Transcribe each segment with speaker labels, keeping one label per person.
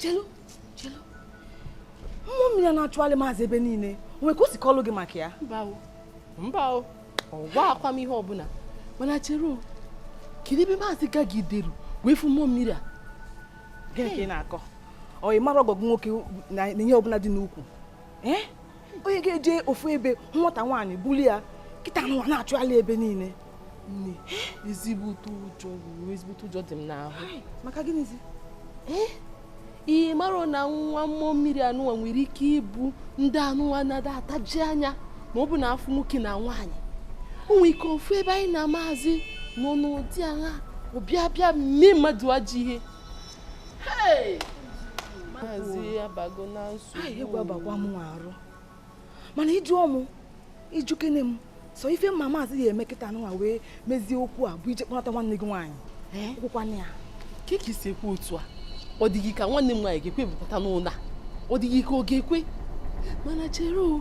Speaker 1: chelu chelu mmụọ mmiri a na-achụghalị maazị ebe niile o nwee ka o si kọlụ gị maka ya mba
Speaker 2: o ọ gwaakwa m ihe ọbụla mana chere kedu ebe maazị gagideru wee fụ mmụọ mmiri a gịnị ka ị
Speaker 1: na-akọ ọ ị mara ọgọgụ nwoke na ihe ọbụla dị n'ukwu eh? onye ga-eje ofu ebe nwata nwaanyị buli ya kịta anụwa na-achụghalị ebe niile
Speaker 2: nne ezigbo ezigbo ụjọ dị m n'ahụ maka gịnịzi
Speaker 1: eh?
Speaker 2: ị mara na nwa mmụọ mmiri anụwa nwere ike ịbụ ndị anụwa na-ada ataji anya ma ọ bụ na a fụ nwoke na nwaanyị o nwere ike ọ fụ ebe anyị na maazị nọ n'ụdị ahụ ọ bịa bịa mee mmadụ ajọ ihe
Speaker 1: mana ị jụọ mụ ị jụkene m sọ ife m ma maazị ya-eme kịta nwa wee mezie okwu a bụ ije kpọnata nwanne gị nwaanyị kwukwana ya kee ka i si
Speaker 2: ekwu otu a ọ dịghị ka nwanne m nwaanyị ga-ekwe mkpọta n'ụlọ a ọ dịghị ka ọ ga-ekwe mana chere o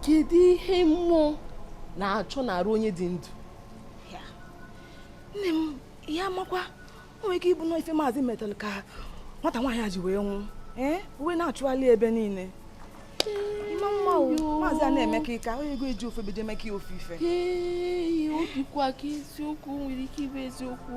Speaker 2: kedu ihe mmụọ na-achọ n'arụ onye dị ndụ
Speaker 1: nne m onye makwa o nwere ike ịbụ na ife maazị metalụ ka nwata nwaanyị a ji wee nwụọ ee o wee na-achụghalị ebe niile maazị a na-eme ka ịka onye ego eji ofe beje eme ka ya ofe ife ee o
Speaker 2: dịkwa ka eziokwu nwere ike ịbụ eziokwu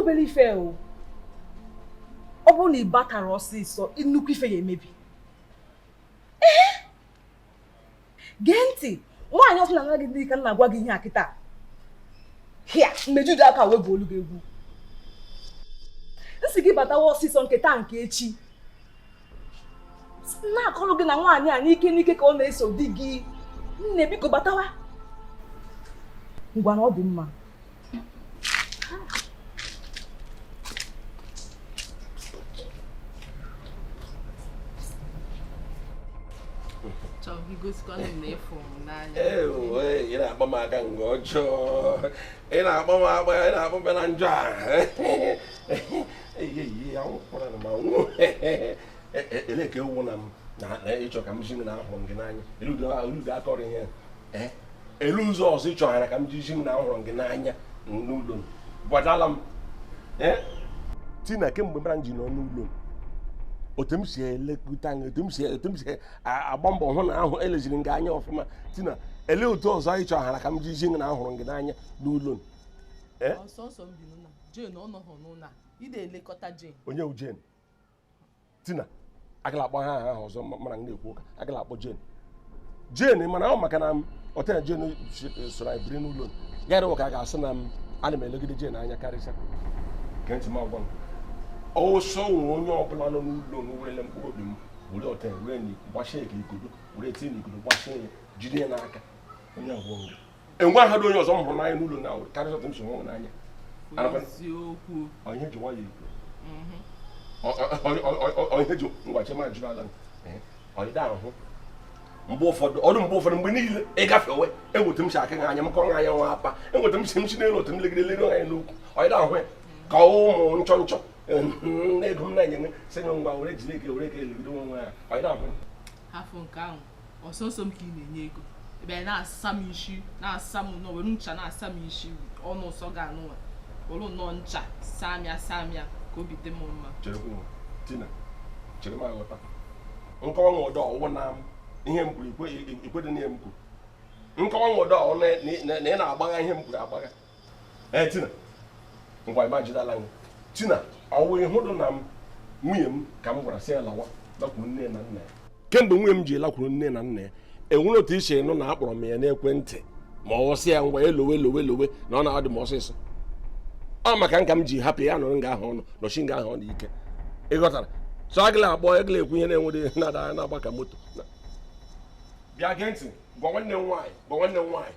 Speaker 1: obere ife o ọ bụ na ị batarọ ọsịsọ nnukwu ife ya-emebi gee ntị nwaanyị ọzọ anaa gị di ka m na-agwa gị ihe a kịta hịa mmejuju aka wee bụ olu gị egwu m sị gị batawa ọsịsọ nke taa nke echi na-akọrọ gị na nwaanyị a n'ike n'ike ka ọ na-eso di gị nne biko batawa ngwanụ ọ dị mma
Speaker 3: ị na-akpọ m aka mgbe ọjọọ ị na-akpọ m agba ị na-akpọ m na njọ a e, e, ele ka ewu na m na ị chọ ka m zi gị na ahụrụ m gị n'anya elu udo akọrọ ihe e, ele ụzọ ọzọ ị chọghara ka m ji zi gị na ahụrụ m gị n'anya n'ụlọ m gbadala m tina kemgbe mụ na gị nọ n'ụlọ m otu m si elekọta anya otu m si otu m si agba mbọ hụ na ahụ eleziri m gị anya ọfụma tina ele otu ọzọ ị chọghara ka m ji zi na ahụrụ m gị n'anya n'ụlọ m Eh?
Speaker 2: ọ sọsọ m bi n'ụlọ Jane ọ nọghị n'ụlọ ị na-elekọta Jane onye wụ Jane
Speaker 3: tina agala akpọ aha ahụ ọzọ mụ na gị na-ekwu ụka agala akpọ Jane Jane mana ọ maka na ọtena Jane soro anyị biri n'ụlọ ya adịwa ka a ga-asị na m ana m elegide Jane anya karịsịa gee ntị m gwa gị ọ sị nwee onye ọbụla nọ n'ụlọ m werele mkpụrụ obi m were ọta were gbachie ka igodo were tinye n'igodo gbachie ya jide ya n'aka onye abụọ enwehadị onye ọzọ m hụrụ n'anya n'ụlọ na karịa otu m si hụ gị n'anya onye ji nwayọ ikwu onye ji ngwachi ma jụrụ ala onye da ahụ mgbe ụfọdụ ọrụ mgbe ụfọdụ mgbe niile ị gafewe enwe otu m si aka anya m kọrọ anya nwa apa enwe otu m si m si n'elu otu m legide lere anya n'ukwu onye da ahụ ya ka ụmụ nchọ nchọ na ego m na-enye sị ngwa were jiri ike were ike elegide onwe gị anya onye da ahụ ya
Speaker 2: ọ sọsọ m ka ị na-enye ego ebe ị na-asa m isi na-asa m nọ were ncha na-asa m isi ọnụ ụsọ ga anụ nwa were nọ ncha saa m ya saa m ya ka obi dị m mma chere m
Speaker 3: aghọta nke ọ wụdị ọ wụ na ihe m kwuru i kwedị na ihe m kwuru nke ọ wụdị ọ wụ na ị na-agbagha ihe m kwuru agbagha ee eh, tina ngwa ịma jidala gị tina ọ wụ ị hụdụ na nwunye m ka m gwara sị ya lawa lakwuru nne na nna ya kemgbe nwunye m ji lakwuru nne na nna ya enwere otu i si nụ na akpọrọ m ya n'ekwentị ma ọ wụ sị ya ngwa elowe lowe lowe na ọ na-adị m ọsịsọ ọ maka gị ka m ji hapụ ya nọrọ nga ahụ ọ nọ nọsie nga ahụ ọ nọ ike ị ghọtara so agịla akpọ agịla ekwu ihe na-enwere na-ada na-agba ka moto bịa gee ntị gwa nwanne m nwaanyị gwa nwanne m nwaanyị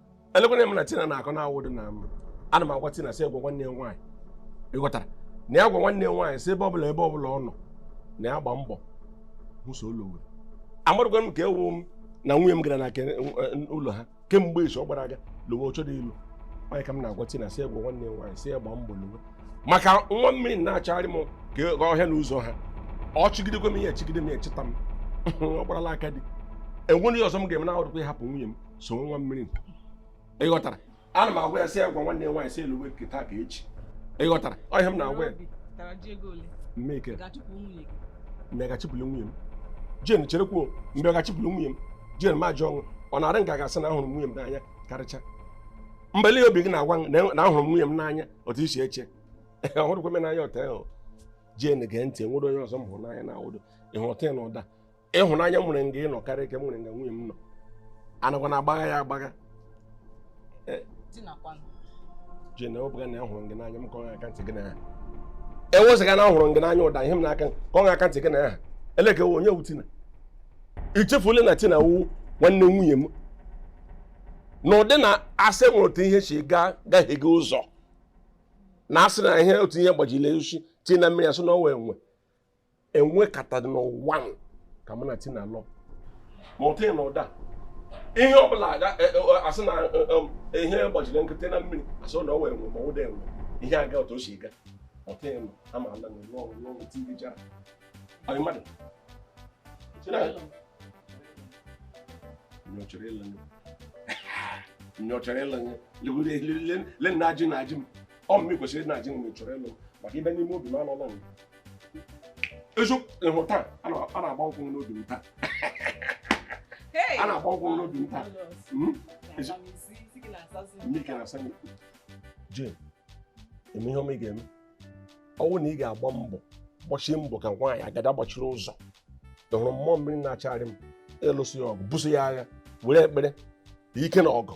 Speaker 3: elekwana m na tina na-akọ na ọ wụdị na ana m agwa tina sị ya gwa nwanne ya nwaanyị ị ghọtara na ya gwa nwanne ya nwaanyị sị ebe ọbụla ebe ọbụla ọ nọ na ya gba mbọ ọsọ lowe amarụkwa m ka ewu m na nwunye m gara na nke ụlọ ha kemgbe izu ọ gbara aga lowe oche dị ilu onye ka m na-agwa tina sị ya gwa nwanne ya nwaanyị sị ya gba mbọ lowe maka nwa mmiri na-achọgharị m ka ọhịa na ụzọ ha ọ chọgidekwa m ihe chọgide m ya chọta m ọ gbarala aka dị enwere ihe ọzọ m ga-eme na-awụdịkwa ịhapụ nwunye m so nwa mmiri ị ghọtara ana m agwa ya sị ya gwa nwanne ya nwaanyị sị ya lọwe nke taa ka echi ị ghọtara ọ ihe m na-agwa ya Obi tara ji ego ole? Emeka ị ga-achụpụ nwunye gị. m gaghị achụpụli nwunye m Jane cherekwa m gaghị achụpụli nwunye m Jane ma jụọ ọnwụ ọ na-arị nga gasị na ahụrụ m nwunye m n'anya karịcha mgbe lee obi gị na-agwa m na- na ahụrụ m nwunye m n'anya otu i si eche ọ hụrụkwa m n'anya otu ahụ Jane gee ntị nwere onye ọzọ m hụrụ n'anya na awụdo ị ghọta ya na ụdị ịhụnanya m nwere nga ị nọ karịa nke m nwere nga nwunye m nọ anakwa na agbagha ya agbagha Jane ọ bụghị na ya hụrụ gị n'anya m ka ọ ga-aka ntị gị na ya ewezuga na ahụrụ gị n'anya ụdị ihe m n'aka ka ọ ga-aka ntị gị na ya eleke onye wụ Tina i chefuole na Tina wụ nwanne nwunye m na ụdị na asị nwere otu ihe si gaa gaghị gị ụzọ na asị na ihe otu ihe gbajiri osisi tii na mmiri asị na ọ wụ enwe e nwekatara n'ụwa ka mụ na Tina lụọ mụta na ụda ihe ọ bụla e, e, asị na e, ihe gbajiri nkụ tii na mmiri asị na ọ wụ enwe ma ụda enwe ihe a ga otu o si ga mụta ịnụ ama ala na ụlọ ọrụ n'ọrụ tivi jara anyị mmadụ onye m chọrọ ịlụ onye m chọrọ ịlụ len na ajị na ajị m ọ mmiri kwesịrị na ajị m chọrọ ịlụ maka i bi n'ime obi m anọla m eziokwu taa a na-agba nkwụ n'obi m taa a na-agba nkwụ n'obi m taa hmm? Jane ị ma ihe ọma ị ga-eme ọ wụ na ị ga-agba mbọ gbachie mbọ ka nwaanyị agada gbachiri ụzọ ị hụrụ mmụọ mmiri na-achagharị m ị lụso ya ọgụ buso ya agha were ekpere ike na ọgụ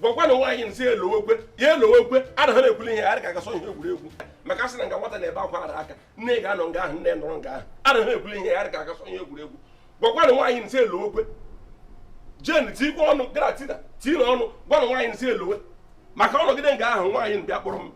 Speaker 3: gwakwanụ nwaanyị m sị ya lọwekwe ya lọwekwe anaghị m ekwuli ihe a rị ka a ga-asị ọ ihe egwuregwu maka asị na nga nwata na-ebe akwa arụ aka nne ga-anọ nga ahụ nna nọrọ nga ahụ anaghị m ekwuli ihe a rị ka a ga-asị ọ ihe egwuregwu gwakwanụ nwaanyị m sị ya lọwekwe Jane tiikwa ọnụ gwara Tina tiinụ ọnụ gwanụ nwaanyị m sị ya lọwe maka ọ nọgide nga ahụ nwaanyị bịa kpọrọ m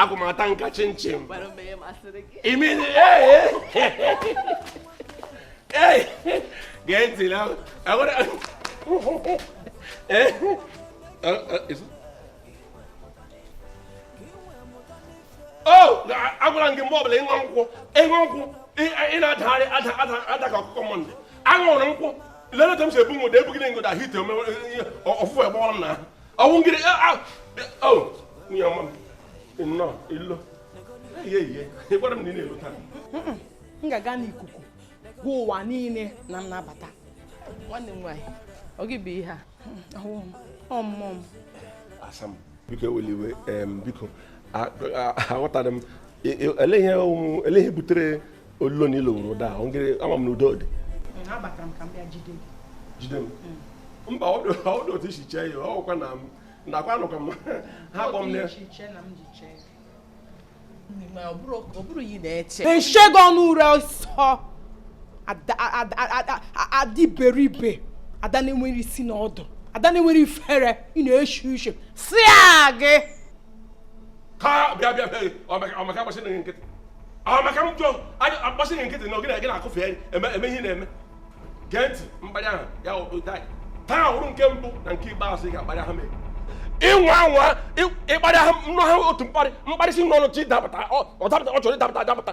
Speaker 3: agwụ m ata nka chinchin gee ntị na agwara m gị mgbe ọbụla ị ṅụ nkwụ ị ṅụ nkwụ ị na-adagharị ada ada ada ka ọkụkọ Mọnde aṅụrụ nkwụ lele otu m si ebu nwụda ebu gị na ngoda hite ụfụfụ ị gbọrọ m n'ahụ ọ wụ ngịrị nwunye ọma m nnọọ ị lọ ihe ihe ị gwara m na ị na-alọ taa m ga-aga
Speaker 2: n'ikuku gwa ụwa niile na m na-abata nwanne m nwaanyị ọ gị bụ ihe a ọmụmụ m asa
Speaker 3: m biko ewela iwe biko aghọtara m elee ihe butere olulo na ilo nwere ụda ahụ ngịrị ama m na udo
Speaker 2: dị jide
Speaker 3: m hmm. mba ọ dị otu i si chee ya ọkwa na m nakwa anụkwa m ha
Speaker 2: kpọ m nshego ọnụ ure ọsọ adị iberibe ada na-enwere isi na ọdụ ada na-enwere ifere ị na-eshi ishi si gị
Speaker 3: ka bịa bịa bịa ọmaka agbasị na nkịtị ọmaka m jụọ agbasị na nkịtị na ogene gị na-akụfe eme eme ihe na-eme gee ntị mkparị ahụ ya ụtai taa wụrụ nke mbụ na nke ikpeazụ ị ga-akparị ha mee ị nwa anwa ịkparị ha nnụ ha otu mkparị mkparị si n'ọnụ gị dapụta ọ dapụta ọ chọrọ ịdapụta adapụta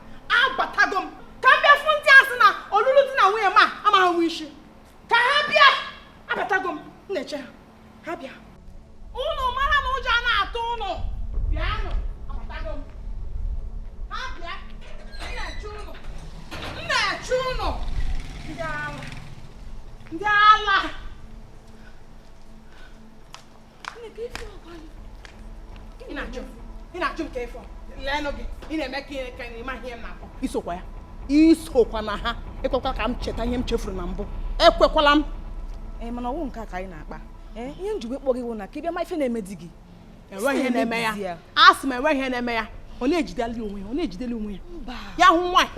Speaker 2: abatago m ka m bịa fụ ndị a sị na ọlụlụ di na nwunye m amaghị nwe isi ka ha bịa abatago m na-eche ha ha bịa ụnụ mara na ụjọ na-atụ ụnụ bịanụ abatago m ha bịa na-eche ụnụ na-eche ụnụ ndị ala ndị ala ị na-ajụ ị na-ajụ m ka ịfọ leenụ gị ị na-eme ka ihe ka ị ma ihe m na-akọ i sokwa ya i sokwa na ha ekwekwala ka m cheta ihe m chefuru na mbụ ekwekwala m ee mana ọ wụ
Speaker 1: nke a ka anyị na-akpa ee ihe m ji wee kpọ gị wụ na ka ị bịa ma ife na-eme di gị enweghị ihe na-eme
Speaker 2: ya a sị m enweghị ihe na-eme ya ọ na-ejideli onwe ya ọ na-ejideli onwe ya ya hụ nwaanyị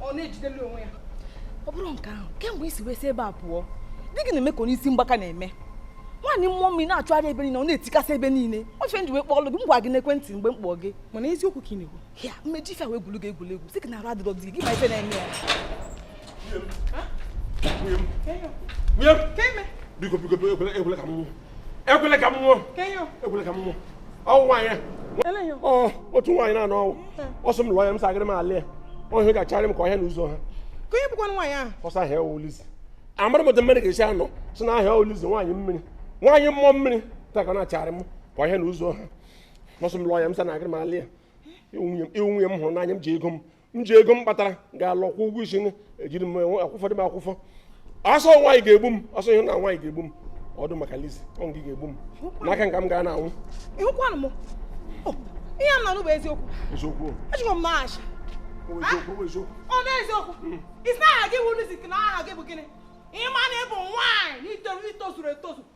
Speaker 2: ọ na-ejideli onwe ya ọ bụrụ nke
Speaker 1: ahụ kemgbe i si wee si ebe a pụọ di gị na-eme ka onye isi mgbaka na-eme nwaanyị mmụọ mmiri na-achụgharị ebe niile ọ na-etikasị ebe niile ọ ife m ji wee kpọọlụ gị m gwa gị n'ekwentị mgbe m kpọọ gị mana eziokwu ka ị
Speaker 2: na-ekwu ya m ma eji ife a wee
Speaker 1: gwulu gị egwuregwu sị gị na arụ adịrọ di gị ma ife na-eme ya
Speaker 3: biko biko ekwela ka m ekwele ka m nwụọ ekwele ka m nwụọ ọ wụ nwaanyị otu nwaanyị na-anọ owu ọ sị m lụọ ya m sị agaghị m alụ ya ọ sị ya ga-acharị m ka ọhịa na ụzọ ha ka onye bụkwa nwaanyị
Speaker 2: ahụ ọ sị aha ya wụ
Speaker 3: Lizzy amaghị m otu mmiri ga-esi anọ sị na aha ya wụ Lizzy nwaanyị mmiri nwaanyị mmụọ mmiri taa ka na-acharị m ka ọhịa na ụzọ ha ọ sị m lụọ ya m sị na agaghị m alụ ya ị wụ nwunye m hụrụ n'anya m ji ego m m ji ego m kpatara gaa lụ kwụọ ụgwọ isi ejiri m akwụfọ dị m akwụfọ a sị nwaanyị ga-egbu m a sị ihe na nwaanyị ga-egbu m ọdụ maka Lizzy ọ gị ga-egbu m n'aka gị ka m ga-anọ anwụ ihe a m
Speaker 2: na-anụ bụ eziokwu eziokwu ejikwa m n'ahachi ọ na eziokwu hmm. ị sị aha gị wụrụ Lizzy na aha gị bụ gịnị ị ma na ị bụ nwaanyị na i tozuru etozu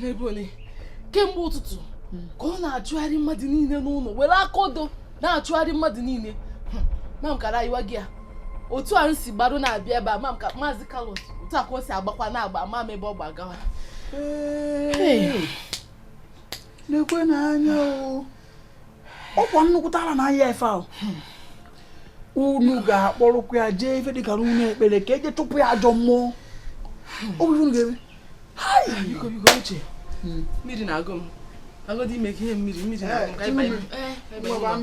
Speaker 2: n'ebe ole kemgbe ụtụtụ hmm. ka ọ na-achụgharị mmadụ niile n'ụlọ were aka odo na-achụgharị mmadụ niile hmm. ma m kara ịgwa gị ya otu a m si gbado na-abịa ebe a ma m ka maazị Carlos otu a ka o si agbakwa na-agba ma m ebe ọ gbagawa
Speaker 4: nekwenụ anya o ọkwa nnukwute ala na-ayị ya ife ahụ unu ga-akpọrọkwa ya jee ife dịka ụnọ ekpere ka e je chụpụ ya ajọ mmụọ ọ bụ ife unu ga-eme mmiri na-agụ m
Speaker 2: agụdị ime ka ihe mmiri mmiri na-agụ m ka anyị banye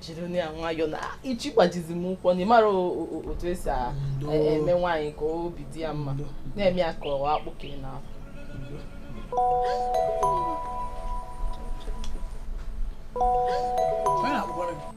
Speaker 2: jiri na ya nwayọọ na ị chọ ịgbajizi m ụkwụ na ị mara otu esi eme nwaanyị ka obi dị ya mma na-eme ya ka ọ akpụ ka ị
Speaker 4: na-asụ Thank you.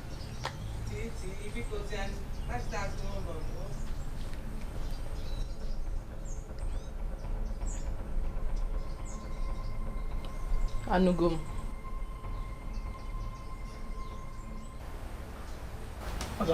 Speaker 2: anụgo m ọzọ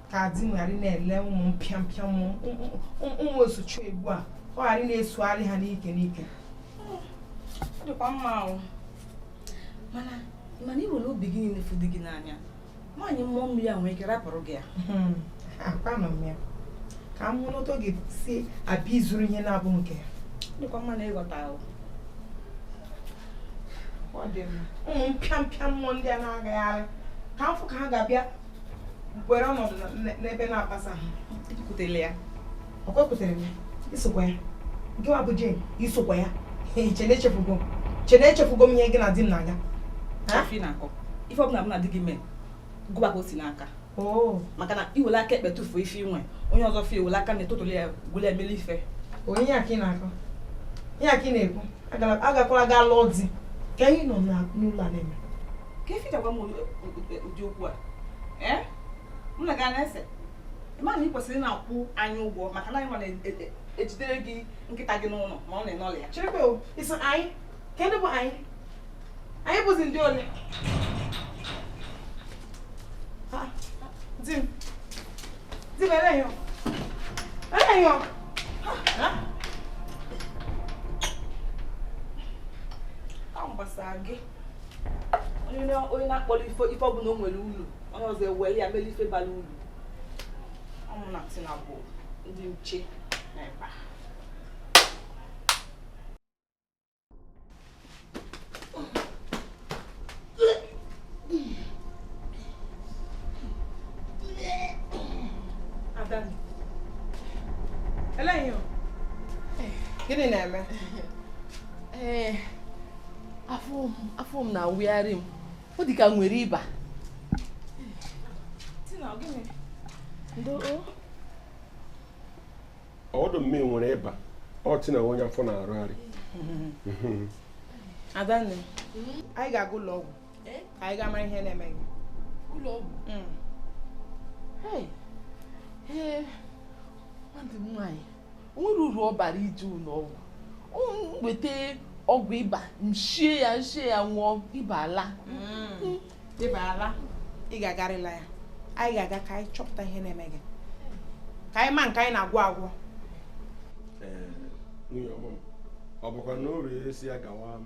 Speaker 1: ka di m ghara na-ele ụmụ mpịampịa mmụọ osochiegbu a ọ ghara na-esogharị ha n'ike n'ike ọ dịkwa mma o mana mana i were obi gị niile fụ di gị n'anya nwaanyị mmụọ mmiri a nwere ike rapụrụ gị ya hmm, akwanụ m ya ka m hụ n'otu ọ ga-esi abịa izuru ihe na-abụ nke ya dịkwa mma na ị ghọta ahụ ụmụ mpịampịa mmụọ ndị a na-agagharị ka m fụ ka ha ga-abịa were ọnọdụ n'ebe na-akpasa ha i kwutere ya ọkwa ekwutere m ya isokwa ya nke wa bụ Jane isokwa ya che na echefugo che na echefugo m ihe gị na di m na-aga ife ọbụla m na di gị mee gụba ka o si n'aka oh. maka na i wele aka ekpe tụfuo ife i nwe onye ọzọ fụ ewele aka nni tụtụli ya wele meli ife onye ya ka ị na-akọ ihe a ka ị na-ekwu
Speaker 4: agakwala gaa lụọ di ka anyị nọ n'ụlọ a na-eme ka efichakwa
Speaker 1: m ụdị okwu a ee m na gị na-ese ị ma na ị kwesịrị na-akwụ anyị ụgwọ maka na anyị nwa na-ejidere gị nkịta gị n'ụlọ ma ị na-anọrọ ya cherekwa ị sị anyị
Speaker 4: kedụ bụ anyị anyị bụzi ndị ole di m di m eleghị eleghị ọ
Speaker 1: gbasara gị onye na-akpọrọ ife ife ọbụla o nwere ulu onye ọzọ ewere ya mere ife bara ulu ọ mụ na Tina bụ ndị nche
Speaker 4: n'ebe a Gịnị na-eme? Ee, eh,
Speaker 2: afọ m na-awụgharị m ọ dị ka m nwere
Speaker 3: ịba ọdụ mme nwere ịba ọ tị na onye afọ na-arụgharị
Speaker 4: adanne anyị ga-aga ụlọ ọgwụ eh? ka anyị gaa mara ihe na-eme gị ụlọ ọgwụ mm.
Speaker 2: ee nwanne m nwaanyị nwere uru ọ bara ije ụlọ ọgwụ M weta ọgwụ ịba m shie ya m shie ya ṅụọ ịba ala Mm.
Speaker 4: ịba ala ị ga-agarịla ya anyị ga-aga ka anyị chọpụta ihe na-eme gị ka anyị ma nke anyị na-agwọ agwọ Ee,
Speaker 3: nwunye ọma m, ọ bụkwa na o ree esi ya gawa m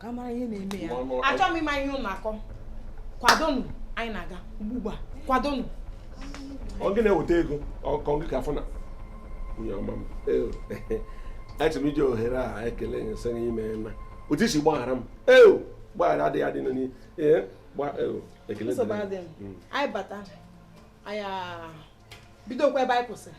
Speaker 1: ka a mara ihe na-eme ya achọghị m ịma ihe ụnụ
Speaker 4: na-akọ kwadonụ anyị na-aga ugbu a
Speaker 3: kwadonụ ọ gị na-eweta ego ọkwa gị ka afọ na nwunye ọma m achọrọ m iji ohere a ekele gị sị gị imeena otu i si gbaghara m eo mgbaghara adịghị adị n'ihe ee gba eo ekele dịrị
Speaker 4: gị. Mm. anyị bata anyị bidokwa ebe anyị kwụsịrị